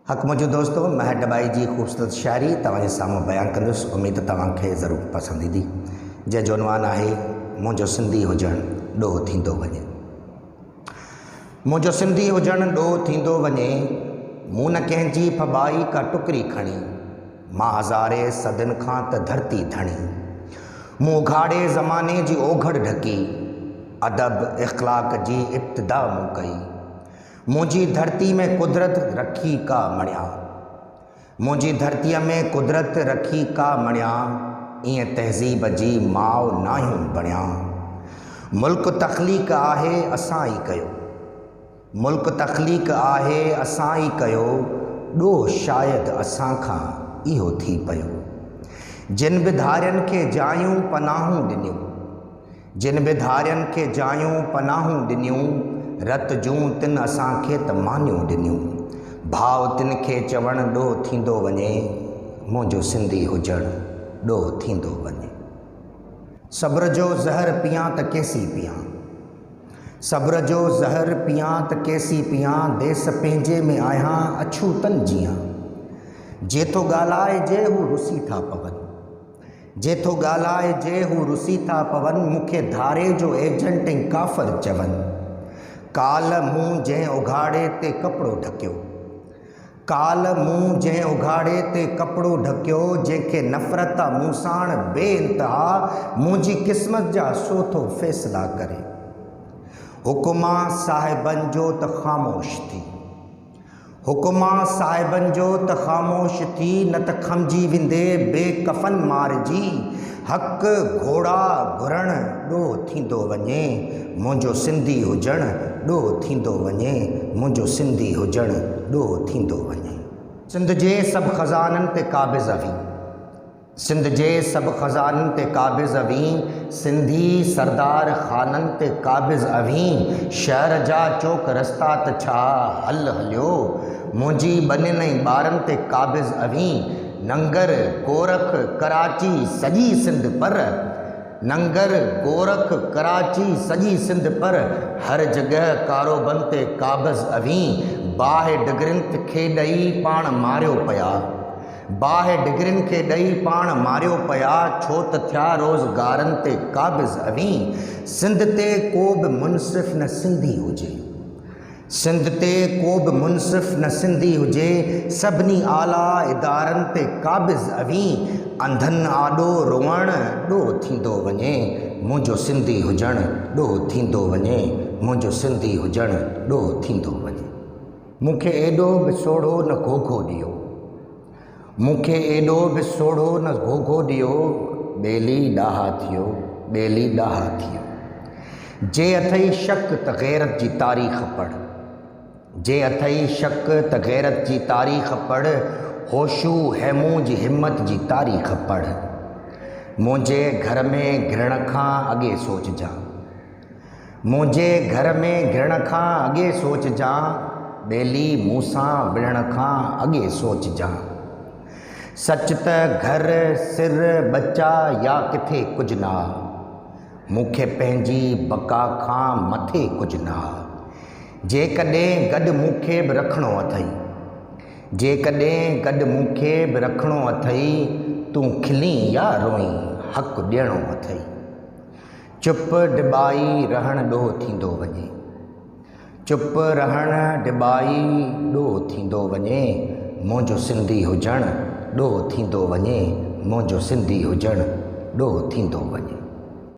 حق منهنجو دوستو مهر ڊٻائي جي خوبصورت شاعري توهان جي سامهون بيان ڪندس اميد توهان کي ضرور پسند ايندي جنهن جو عنوان آهي منهنجو سنڌي هجڻ ڏوهه ٿيندو وڃي منهنجو سنڌي هجڻ ڏوهه ٿيندو وڃي مون نه ڪنهن جي ڦٻائي ڪا ٽڪري کڻي مان هزاري صدين کان ته ڌرتي ڌڻي مون اگهاڙي زماني جي اوگهڙ ڍڪي ادب اخلاق جي ابتدا مون ڪئي منهنجي ڌرتي ۾ قدرت رکي ڪا مڻيا. منهنجي ڌرتيء ۾ قدرت رکي ڪا مڻيا، ائين تهذيب جي ماء ناهيون بڻيا. ملڪ تخليق آهي اسان ئي ڪيو. ملڪ تخليق آهي اسان ئي ڪيو، ڏوهه شايد اسان کان اهو ٿي پيو. جن به ڌارين کي جايون پناهون ڏنيون. جن به ڌارين کي جايون پناهون ڏنيون، رت جون تن اسان کي ته مانيون ڏنيون. ڀاء تن کي چوڻ ڏوهه ٿيندو وڃي، منهنجو سنڌي هجڻ ڏوهه ٿيندو وڃي. صبر جو زهر پيان ته ڪيسين پيان. صبر جو زهر پيان ته ڪيسين پيان، ديس پنهنجي ۾ آهيان اڇوتن جيان. جي ٿو ڳالهائجي هو رسي ٿا پون. جي ٿو ڳالهائجي هو رسي ٿا پون، مون کي ڌاري جو ايجنٽ ۽ ڪافر چون. ڪالهه مون جنهن اگهاڙي تي ڪپڙو ڍڪيو. ڪالهه مون جنهن اگهاڙي تي ڪپڙو ڍڪيو، جنهن کي نفرت آ مون ساڻ بي انتها منهنجي قسمت جا سو ٿو فيصلا ڪري. حڪما صاحبن جو ته خاموش ٿي. حڪما صاحبن جو ته خاموش ٿي نه ته کمجي ويندي بي ڪفن مارجي حق گهوڙا گهرڻ ڏوهه ٿيندو وڃي منهنجو سنڌي هجڻ ڏوهه ٿيندو وڃي منهنجو سنڌي هجڻ ڏوهه ٿيندو وڃي. سنڌ جي سڀ خزانن تي قابض هئي. سنڌ جي سڀ خزانن تي قابض اوهين، سنڌي سردار خانن تي قابض اوهين، شهر جا چوڪ رستا ته ڇا هل هليو، منهنجي ٻنين ۽ ٻارن تي قابض اوهين، ننگر، گورک، ڪراچي سڄي سنڌ پر، ننگر، گورک، ڪراچي سڄي سنڌ پر، هر جڳهه ڪاروبن تي قابض اوهين، باهه ڊگرين کي ڏئي پاڻ ماريو پيا. باهه ڊگرين کي ڏئي پاڻ ماريو پيا ڇو ته ٿيا روز گارن تي قابض اوهين سنڌ تي ڪو به منصف نه سنڌي هجي سنڌ تي ڪو به منصف نه سنڌي هجي سڀني اعليٰ ادارن تي قابض اوهين انڌن آڏو روئڻ ڏوهه ٿيندو وڃي منهنجو سنڌي هجڻ ڏوهه ٿيندو وڃي منهنجو سنڌي هجڻ ڏوهه ٿيندو وڃي. مون کي ايڏو به سوڙهو نه گهوگهو ڏيو مون کي ايڏو به سوڙهو نه گهوگهو ڏيو ٻيلي ڏاها ٿيو ٻيلي ڏاها ٿيو جي اٿئي شڪ ته غيرت جي تاريخ پڙهه جي اٿئي شڪ ته غيرت جي تاريخ پڙهه هوشو هيمو جي همت جي تاريخ پڙهه منهنجي گهر ۾ گرڻ کان اڳي سوچجان منهنجي گهر ۾ گهڙڻ کان اڳي سوچجان، ٻيلي مون سان وڙهڻ کان اڳي سوچجان. سچ ته گهر، سر، ٻچا يا ڪٿي ڪجهه نه آ. مون کي پنهنجي بقا کان مٿي ڪجهه نه آ. جيڪڏهن گڏ مون کي به رکڻو اٿئي. جيڪڏهن گڏ مون کي به رکڻو اٿئي، تون کلين يا روئين، حق ڏيڻو اٿئي. چپ ڊٻائي رهڻ ڏوهه ٿيندو وڃي. چپ رهڻ ڊٻائي ڏوهه ٿيندو وڃي، منهنجو سنڌي هجڻ ڏوهه ٿيندو وڃي، منهنجو سنڌي هجڻ ڏوهه ٿيندو وڃي.